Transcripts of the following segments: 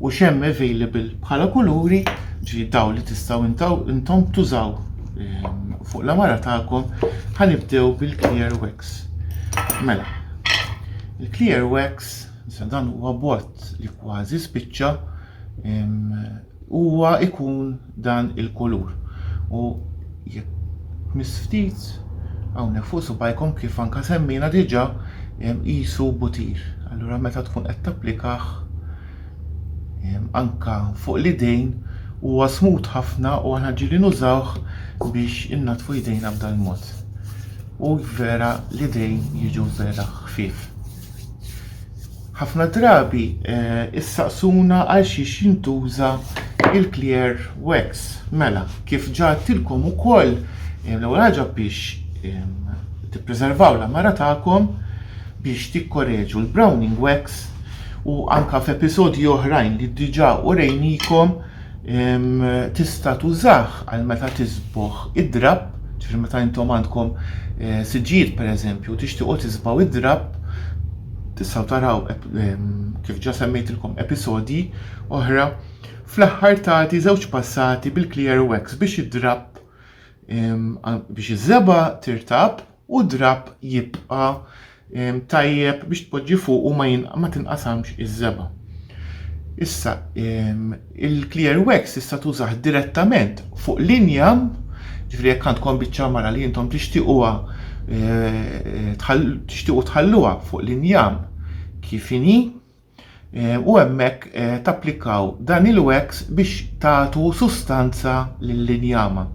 U x'hemm available bħala kuluri, ġifieri daw li tistgħu intaw intom tużaw ehm, fuq l-amara tagħkom, ħanibdew bil-clear wax. Mela, il-clear wax, dan huwa bot li kważi spiċċa ehm, huwa ikun dan il-kulur u jekk tmiss ftit hawnhekk fuq subajkom kif anke semmejna diġà qisu butir. Allura meta tkun qed tapplikah anke fuq l-idejn huwa smut ħafna u aħna ġieli nużawh biex innaddfu jdejna b'dal-mod. U vera l-idejn jiġu vera ħfief. Ħafna drabi issaqsuna għalxiex jintuża il-clear wax. Mela, kif ġatilkom ukoll, l-ewwel ħaġa biex tippreservaw l-għamara tagħkom biex tikkoreġu l-browning wax u anke f'episodji oħrajn li diġà urejnikom Tista' tużah għal meta tisbogħ id-drapp, ġifieri meta intom għandkom siġġijiet pereżempju tixtiequ tisbaw id-drapp, tistgħu taraw kif ġa semmejtilkom episodji oħra, fl-aħħar tagħti żewġ passati bil-clear wax biex id-drapp biex iż-żebgħa tirtab u d-drapp jibqa' tajjeb biex tpoġġi fuqu ma tinqasamx iż-żebgħa. Issa il-clear wax tista' tużah direttament fuq l-injam, ġifieri jekk għandkom biċċa mara li intom tixtiequha tixtiequ tħalluha fuq l-injam kif inhi, u hemmhekk tapplikaw dan il-wax biex tagħtu sustanza lill-injama.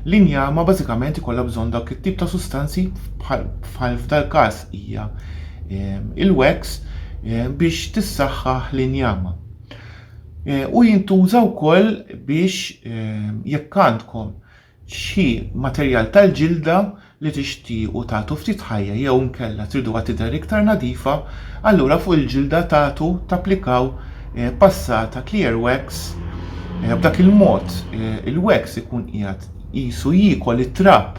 L-injama bażikament ikollha bżonn dak it-tip ta' sustanzi bħal f'dal-każ hija il-wax biex tissaħħaħ l-injama. U jintuża wkoll biex jekk għandkom Xi materjal tal-ġilda li tixtiequ tagħtu ftit ħajja jew inkella triduha tidher iktar nadifa, allura fuq il-ġilda tagħtu tapplikaw passata clear wax. B'dak il-mod il-wax ikun qiegħed qisu jiekol it-trab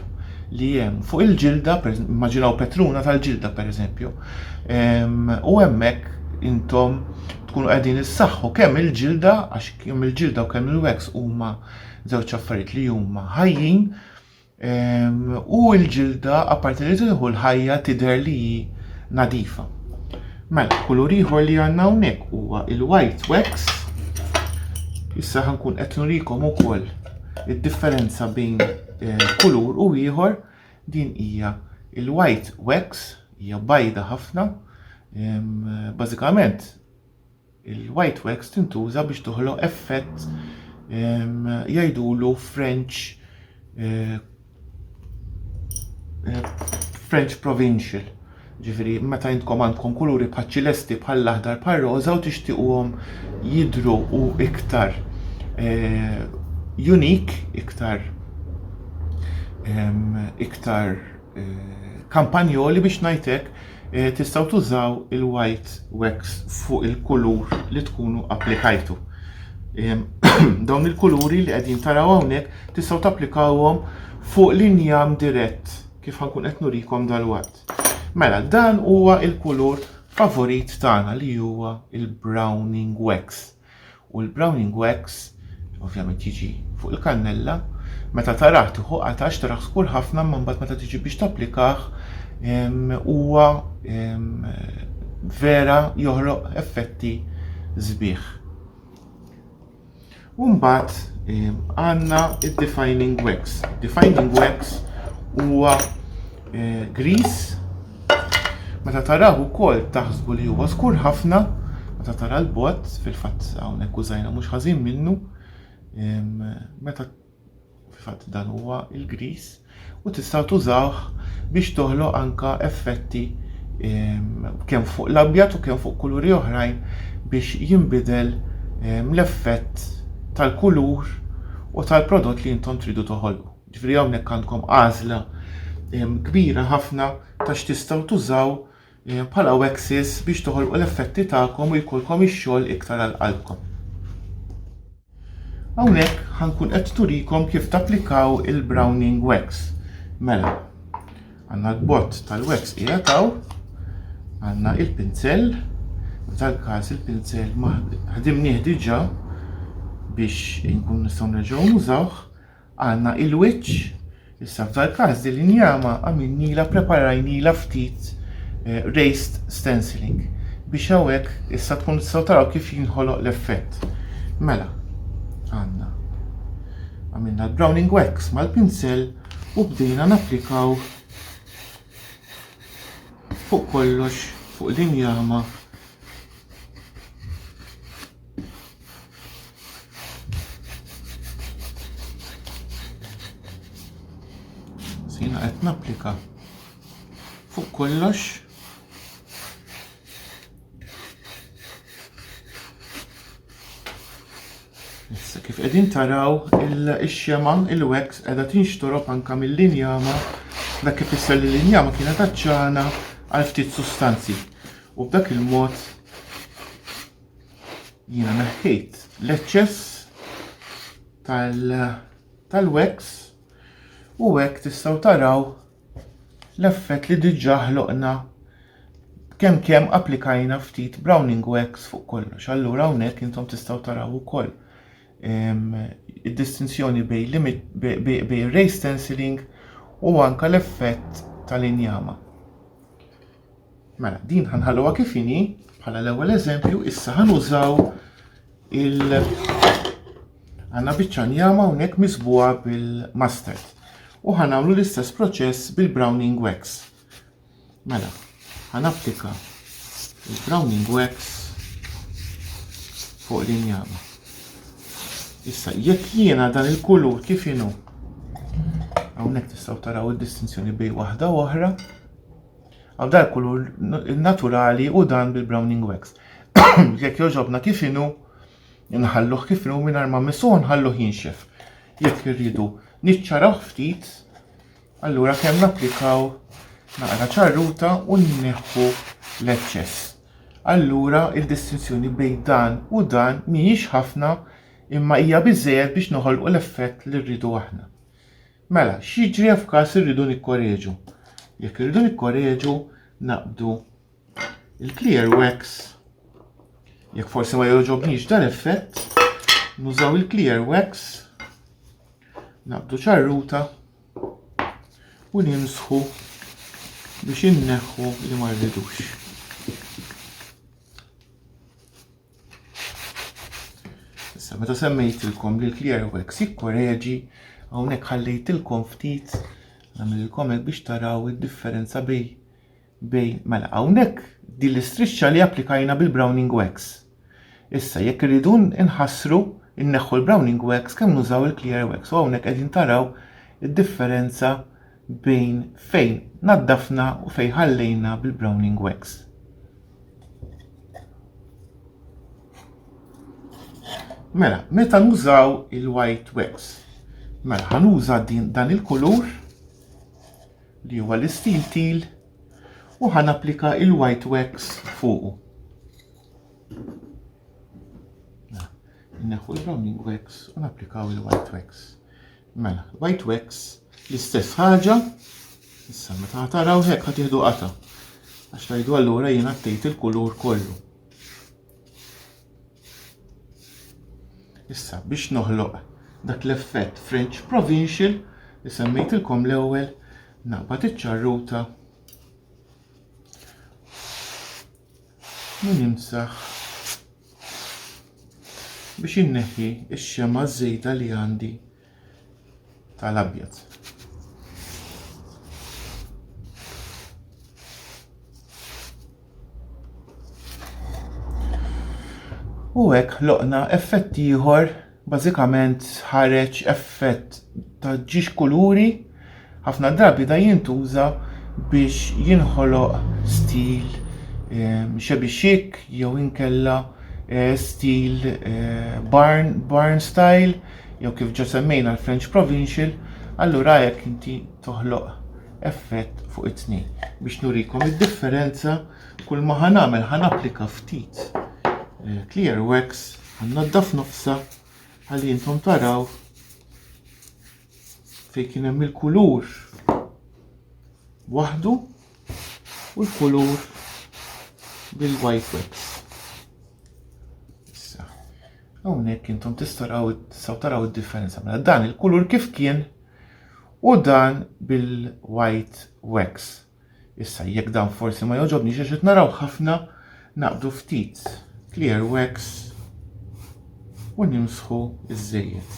li hemm fuq il-ġilda, immaġinaw petruna tal-ġilda pereżempju, u hemmhekk intom tkunu qegħdin issaħħu kemm il-ġilda għax kemm il-ġilda u kemm il-wax huma żewġ affarijiet li huma ħajjin u l-ġilda apparti li tieħu l-ħajja tidher li hi nadifa. Mela, kulur ieħor li għandna hawnhekk huwa il-white wax. Issa ħankun qed nurikom ukoll id-differenza bejn eh, kulur u ieħor din hija il-white wax hija bajda ħafna. Bażikament Il-white wax tintuża biex toħloq effett jgħidulu French eh, eh, French provincial. Ġifiri, meta jintkom għandkom kuluri bħal-ċilesti bħall-aħdar bħal-roza u tixtiquhom jidru u iktar eh, unik, iktar iktar kampanjoli biex ngħid hekk, eh, tistgħu tużaw il-white wax fuq il-kulur li tkunu applikajtu. Dawn il-kuluri li qegħdin taraw hawnhekk tistgħu tapplikawhom fuq l-injam dirett kif ħankun qed nurikom dal-watt. Mela, dan huwa il-kulur favorit tagħna li huwa il-browning wax. U l-browning wax ovvjament jiġi fuq il-kannella, meta tarah tieħu qatax tarah skur ħafna imma mbagħad meta tiġi biex tapplikah huwa vera joħloq effetti sbieħ. U mbagħad għandna id-defining wax. Defining wax huwa eh, gris. Meta taraw ukoll taħsbu li huwa skur ħafna, meta tara l-bot, fil-fatt hawnhekk użajna mhux ħażin minnu, meta fil-fatt dan huwa il-gris u tistgħu tużawh biex toħloq anka effetti kemm fuq l-abjad u kemm fuq kuluri oħrajn biex jinbidel l-effett tal-kulur u tal-prodott li intom tridu toħolqu. Ġifieri hawnhekk għandkom għażla kbira ħafna ta' x'tistgħu tużaw bħala waxes biex toħolqu l-effetti tagħkom u jkollkom ix-xogħol iktar għal qalbkom. Hawnhekk ħankun qed turikom kif tapplikaw il-Browning Wax. Mela, għandna l-bott tal-wax hija taw, għandna il-pinzell, tal-każ il-pinzell ħadimnieh diġà biex inkun nistgħu nerġgħu nużawh. Għandna il-wiċċ, issa f'dal każ din l-injama għamilnilha preparajnilha ftit eh, raised stenciling biex hawnhekk issa tkun tistgħu taraw kif jinħoloq l-effett. Mela, għandna. Għamilna l-browning wax mal-pinsel u bdejna napplikaw fuq kollox fuq l-injama Sina qed napplika fuq kollox Issa kif qegħdin taraw il-xema il-wax qiegħda tinxtorob anka mill-linjama dak kif isser li l-linjama kienet aċċana għal ftit sustanzi. U b'dak il-mod Jiena neħħejt l-eċċess tal-wax u hekk tistgħu taraw l-effett li diġà ħloqna kemm kemm applikajna ftit browning wax fuq kollox. Allura hawnhekk intom tistgħu taraw ukoll ehm, id-distinzjoni bejn ray stenciling u anka l-effett tal-injama. Mela, din ħanħalluha kif inhi bħala l-ewwel eżempju, issa ħanużaw il għandna biċċa njama hawnhekk miżbuha bil-mustard. U ħanagħmlu l-istess proċess bil-browning wax. Mela, ħanapplika il-browning wax fuq l-injama. Issa, jekk jiena dan il-kulur kif inhu, hawnhekk tistgħu taraw id-distinzjoni bejn waħda u oħra, Għal dar kulur naturali u dan bil-browning wax. Jekk joġobna kif inhu, nħalluh kif inhu mingħajr ma missuh nħalluh jinxef. Jekk irridu niċċaraw ftit, allura kemm napplikaw naqra ċarruta u nneħħu l-eċċess. Allura il-distinzjoni bejn dan u dan mhijiex ħafna imma hija biżejjed biex noħolqu l-effett li rridu aħna. Mela, x'jiġri f'każ irridu nikkoreġu? Jekk irridu nikkoreġu, naqbdu il-clear wax, jekk forsi ma joġobniex dan effett, nużaw il-clear wax, naqbdu ċarruta u nimsħu biex inneħħu li ma rridux. Issa meta semmejtilkom li l-Clearwax jikkoreġi, hawnhekk ħallejtilkom ftit nagħmililkom hekk biex taraw id-differenza bej bej mela hawnhekk din l-istrixxa li applikajna bil-Browning Wax. Issa jekk irridu nħassru inneħħu l-Browning Wax kemm nużaw il-Clear Wax u hawnhekk qegħdin taraw id-differenza bejn fejn naddafna u fejn ħallejna bil-Browning Wax. Mela, meta nużaw il-white wax, mela ħanuża din dan il-kulur li huwa l-istil til u ħan applika il-white wax fuqu. Neħu l-browning wax u napplikaw il-white wax. Mela, white wax l-istess ħaġa, issa meta ħataraw hekk ħatieħdu qata. Għax tajdu allura jien għattejt il-kulur kollu. Issa biex noħloq dak l-effett French Provincial li semmejtilkom l-ewwel naqbad iċ-ċarruta u nimsaħ biex inneħħi x-xema żejda li għandi tal-abjad. U hekk ħloqna effett ieħor Bażikament ħareġ effett ta' ġiex kuluri, ħafna drabi da jintuża biex jinħoloq stil ehm, xebi chic jew inkella eh, stil eh, barn, barn style jew kif ġa semmejna l-French provincial, allura hekk inti toħloq effett fuq it-tnejn. Biex nurikom id-differenza kull ma ħanamel ħan applika ftit eh, clear wax Għannaddaf nofsa għalli intom taraw fej kien hemm il-kulur waħdu u l-kulur bil-white wax. Issa, hawnhekk intom tistaraw saw taraw id-differenza mela dan il-kulur kif kien u dan bil-white wax. Issa jekk dan forsi ma jogħġobniex għax qed naraw ħafna naqbdu ftit clear wax u nimsħu iż-żejjed.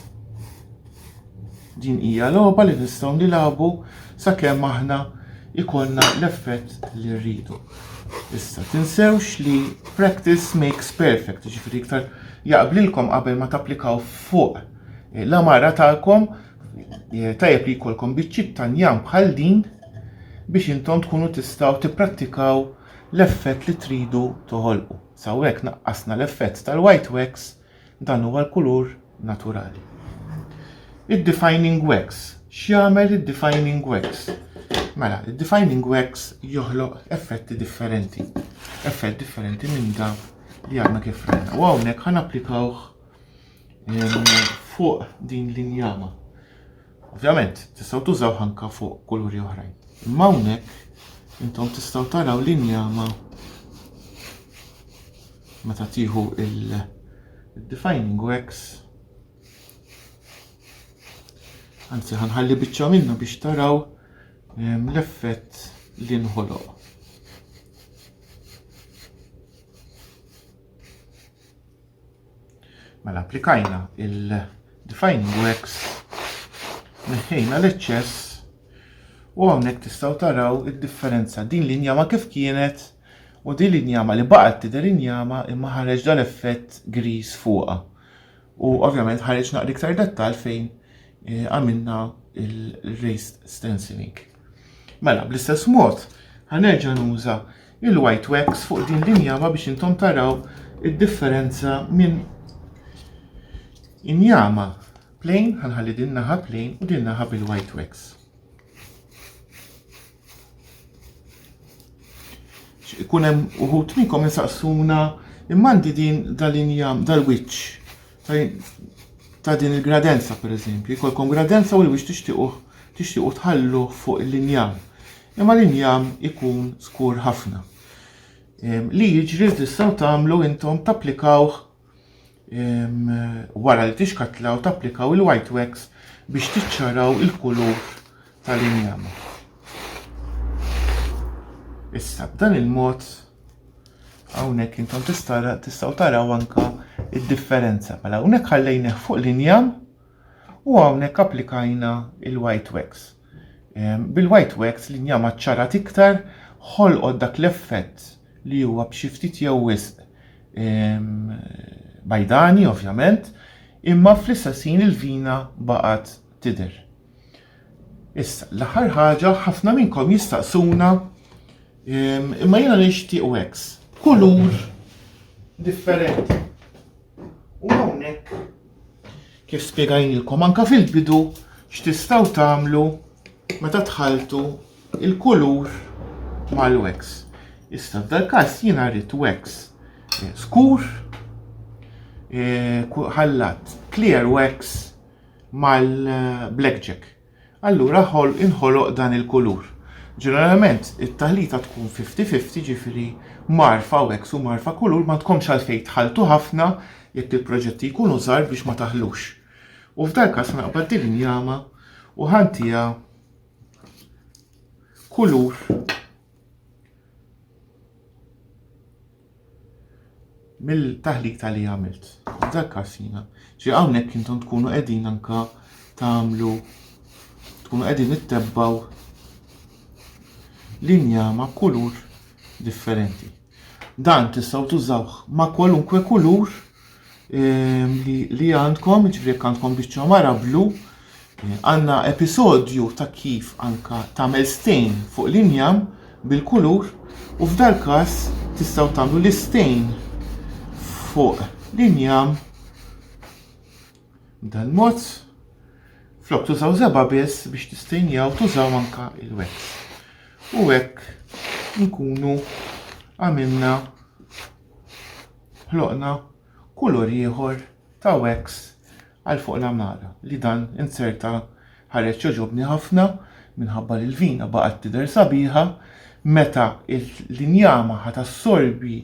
Din hija logħba li nistgħu nilagħbu sakemm aħna ikollna l-effett li rridu. Issa tinsewx li practice makes perfect, ġifieri iktar jaqblilkom qabel ma tapplikaw fuq l-amara tagħkom Tajjeb li jkollkom biċċiet ta' njam bħal din biex intom tkunu tistgħu tipprattikaw l-effett li tridu toħolqu. Sawek naqqasna l-effett tal-white wax dan huwa l-kulur naturali. Id-defining wax, x'jagħmel id-defining wax? Mela, id-defining wax joħloq effetti differenti. Effett differenti minn dak li għadna kif rajna. U hawnhekk ħan applikawh fuq din l-injama. Ovvjament, tistgħu tużaw ħanka fuq kuluri oħrajn. Imma hawnhekk intom tistgħu taraw l-injama meta tieħu il-defining wax anzi ħanħalli biċċa minna biex taraw ehm, l-effett li nħoloq. Mela applikajna il-defining wax, neħħejna l-eċċess u hawnhekk tistgħu taraw id-differenza din l-injama kif kienet u din l-injama li baqgħet tidher injama imma ħareġ dal-effett griż fuqha. U ovvjament ħareġ naqra iktar dettal fejn eh, għamilna il-raised stenciling. Mela, bl-istess mod, ħanerġa' nuża il-white wax fuq din l-injama biex intom taraw id-differenza minn injama plain, ħanħalli din naħa plain u din naħa bil-white wax. Ikun hemm uħut minnkom insaqsuna immandi din dal-injam dal-wiċċ ta' din il-gradenza pereżempju, jkollkom gradenza u li biex tixtiequ tixtiequ tħallu fuq l-injam. Imma l-injam ikun skur ħafna. Ehm, li jiġri tistgħu tagħmlu intom tapplikawh ehm, wara li tixkatlaw tapplikaw il-white wax biex tiċċaraw il-kulur tal-injam. Issa b'dan il-mod Hawnhekk intom tistgħu taraw anka id-differenza. Mela hawnhekk ħallejnih fuq l-injam u hawnhekk applikajna il-white wax. Ehm, bil-white wax l-injam ċarat iktar ħolqod dak l-effett li huwa b'xi ftit jew wisq ehm, bajdani ovvjament, imma fl-istess ħin il-vina baqgħet tidher. Issa, l-aħħar ħaġa ħafna minnkom jistaqsuna Imma jiena nixtieq wax b'kulur differenti. U hawnhekk kif spjegajnilkom anka fil-bidu x'tistgħu tagħmlu meta tħaltu il-kulur mal-wax. Issa f'dal-każ jiena rrid wax eh, skur eh, ħallat clear wax mal-blackjack. Eh, allura ħolq inħoloq dan il-kulur. Ġeneralment it-taħlita tkun 50-50 ġifieri marfa u eks u marfa kulur ma tkomx għalfejn tħalltu ħafna jekk il-proġetti jkunu żgħar biex ma taħlux. U f'dal każ naqbad din injama u ħantiha kulur mill-taħlik ta' li għamilt. Dak każ jiena. Ġi hawnhekk intom tkunu qegħdin anka tagħmlu tkunu qegħdin ittebbaw linja ma' kulur differenti. Dan tistgħu tużawh ma' kwalunkwe kulur li għandkom, jiġifieri jekk għandkom biċċa mara blu, għandna episodju ta' kif anka tagħmel stejn fuq l-injam bil-kulur u f'dal każ tistgħu tagħmlu l-istejn fuq l-injam dan mod flok tużaw żeba' biss biex tistejnjaw tużaw anka il-wet. U hekk nkunu għamilna ħloqna kulur ieħor ta' wax għal fuq l-għamara li dan inzerta ħareġ jogħġobni ħafna minħabba li l-vina baqgħet tidher sabiħa meta l-injama ħa tassorbi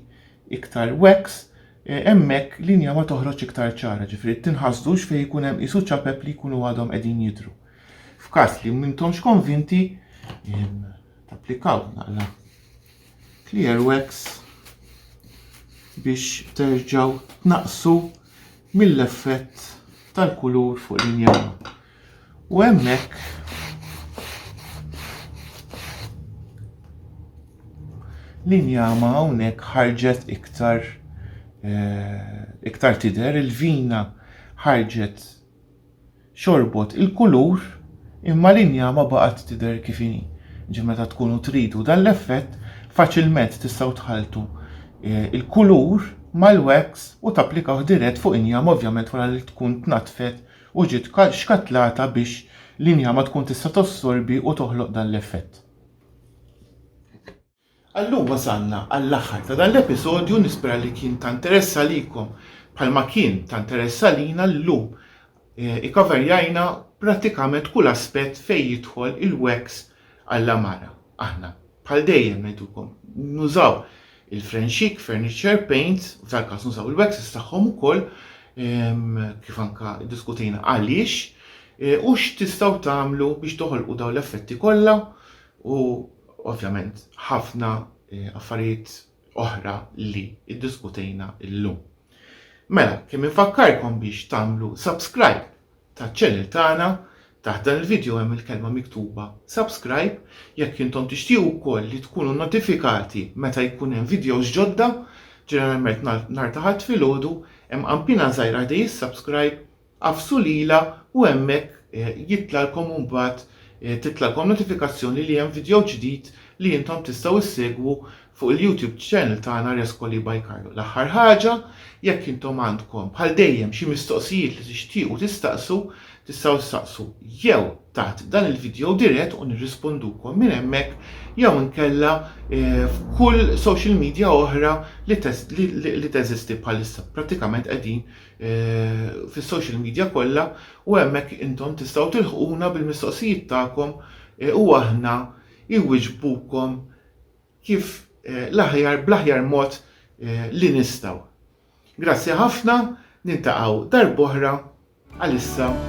iktar wax eh, hemmhekk l-injama toħroġ iktar ċara, ġifieri tinħasdux fejn ikun hemm qisu ċapep li jkunu għadhom qegħdin jidhru. F'każ li m'intomx konvinti, applikaw naqla clear wax biex terġgħu tnaqqsu mill-effett tal-kulur fuq l-injam. U hemmhekk l-injama hawnhekk ħarġet iktar eh, iktar tidher il-vina ħarġet xorbot il-kulur imma l-injama baqgħet tidher kif inhi. Ġifieri meta tkunu tridu dan l-effett faċilment tistgħu tħalltu l-kulur mal-wax u tapplikawh dirett fuq injama ovvjament wara li tkun tnaddfet u ġiet xkattlata biex l-injama tkun tista' tossorbi u toħloq dan l-effett. Għallum wasalna għall-aħħar ta' dan l-episodju nispera li kien ta' nteress għalikom bħalma kien ta' nteress għalina llum ikaverjajna prattikament kull aspett fejn jidħol il-wax għall-għamara. Aħna bħal dejjem ngħidulkom nużaw il-Frenxik Furniture Paints u tal-każ nużaw il-waxes tagħhom ukoll kif anke ddiskutejna għaliex u x'tistgħu tagħmlu biex toħolqu dawn l-effetti kollha u ovvjament ħafna affarijiet oħra li iddiskutejna illum. Mela, kemm infakkarkom biex tagħmlu subscribe taċ-channel tagħna taħt dan il-video hemm il-kelma miktuba subscribe jekk intom tixtiequ wkoll li tkunu notifikati meta jkun hemm videos ġodda ġeneralment nhar ta' ħadd filgħodu hemm qampina żgħira ħdej is-subscribe Agħfsu lilha u hemmhekk jitlgħalkom imbagħad titlgħalkom notifikazzjoni li hemm vidjow ġdid li intom tistgħu ssegwu fuq il-YouTube channel tagħna Rescoli by Carlo. L-aħħar ħaġa, jekk intom għandkom, bħal dejjem, xi mistoqsijiet li tixtiequ tistaqsu, tistgħu ssaqsu jew taħt dan il-vidjow dirett u nirrispondukom minn hemmhekk jew inkella f'kull social media oħra li teżisti bħalissa. Prattikament qegħdin fis-social media kollha u hemmhekk intom tistgħu tilħquna bil-mistoqsijiet tagħkom u aħna iwiġbukom kif l-aħjar bl-aħjar mod li nistgħu. Grazzi ħafna, niltaqgħu darb'oħra għalissa.